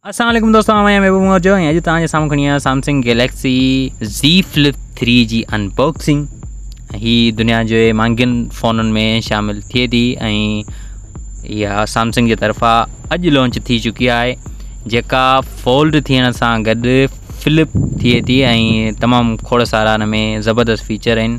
السلام عليڪم دوستو آئون آهيان محبوب موجو ۽ اڄ تان جي سامهون کڻي آيا سامسنگ گيليڪسي زي فلپ 3 جي انباڪسنگ هي دنيا جو مانگين فونن ۾ شامل ٿئي ٿي ۽ اها سامسنگ جي طرفان اڄ لانچ ٿي چڪي آهي جيڪا فولڊ ٿيڻ سان گڏ فلپ ٿئي ٿي ۽ تمام کڙ سارا ان ۾ زبردست فيچر آهن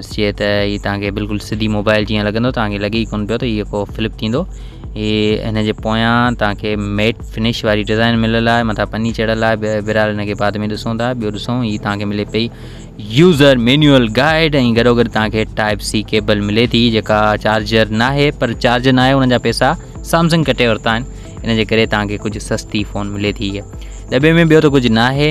ڏسجي ته هي توهان کي بلڪل سڌي موبائل جيئن لڳندو توهان کي لڳي ئي ڪون پيو ته هي ڪو فلپ ٿيندو هي هن جي پويان توهان کي ميٽ فنش واري ڊزائن مليل آهي مٿان پني چڙھيل آهي بهرحال هن کي بعد ۾ ڏسون ٿا ٻيو ڏسون هي توهان کي ملي پئي يوزر مينيول گائيڊ ۽ گڏو گڏ توهان کي ٽائپ سي ڪيبل ملي ٿي جيڪا چارجر نه آهي پر چارجر نه آهي ان جا پيسا سامسنگ ڪٽي ورتا آهن ان جي ڪري توهان کي ڪجهه سستي فون ملي ٿي دٻي ۾ ٻيو ته ڪجهه نه آهي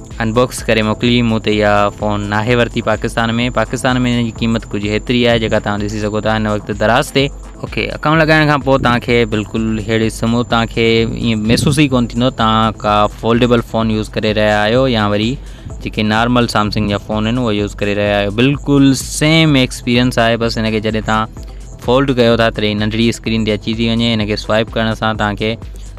ان باڪس ڪري موڪلي مون تي اها فون ناهي ورتي پاڪستان ۾ پاڪستان ۾ ان جي قيمت ڪجهه هيتري آهي جيڪا توهان ڏسي سگهو ٿا هن وقت دراز تي اوڪي اڪائونٽ لڳائڻ کان پوء توهان کي بلڪل هيڙي سمو توهان کي ائين محسوس ئي ڪون ٿيندو توهان ڪا فولڊيبل فون يوز ڪري رهيا آهيو يا وري جيڪي نارمل سامسنگ جا فون آهن اهو يوز ڪري رهيا آهيو بلڪل سيم ايڪسپيريئنس آهي بس هن کي جڏهن توهان فولڊ ڪيو ٿا تڏهن ننڍڙي اسڪرين تي اچي ٿي وڃي هن کي سوائپ ڪرڻ سان توهان کي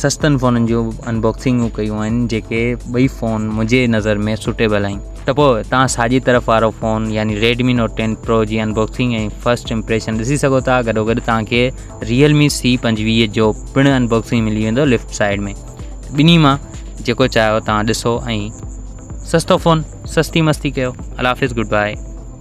سستن فونن جون ان باڪسنگون ڪيون آهن جيڪي ٻئي فون منهنجي نظر ۾ سوٽيبل آهن ته پوء تان ساڄي طرف وارو فون يعني ريڊمي نوٽ ٽين پرو جي ان باڪسنگ ۽ فرسٽ امپريشن ڏسي سگهو ٿا گڏو گڏ توهان کي ريئل مي سي پنجويهه جو پڻ ان باڪسنگ ملي ويندو ليفٽ سائيڊ ۾ ٻنهي مان جيڪو چاهيو توهان ڏسو ۽ سستو فون سستي مستي ڪيو الافظ گڊ بائي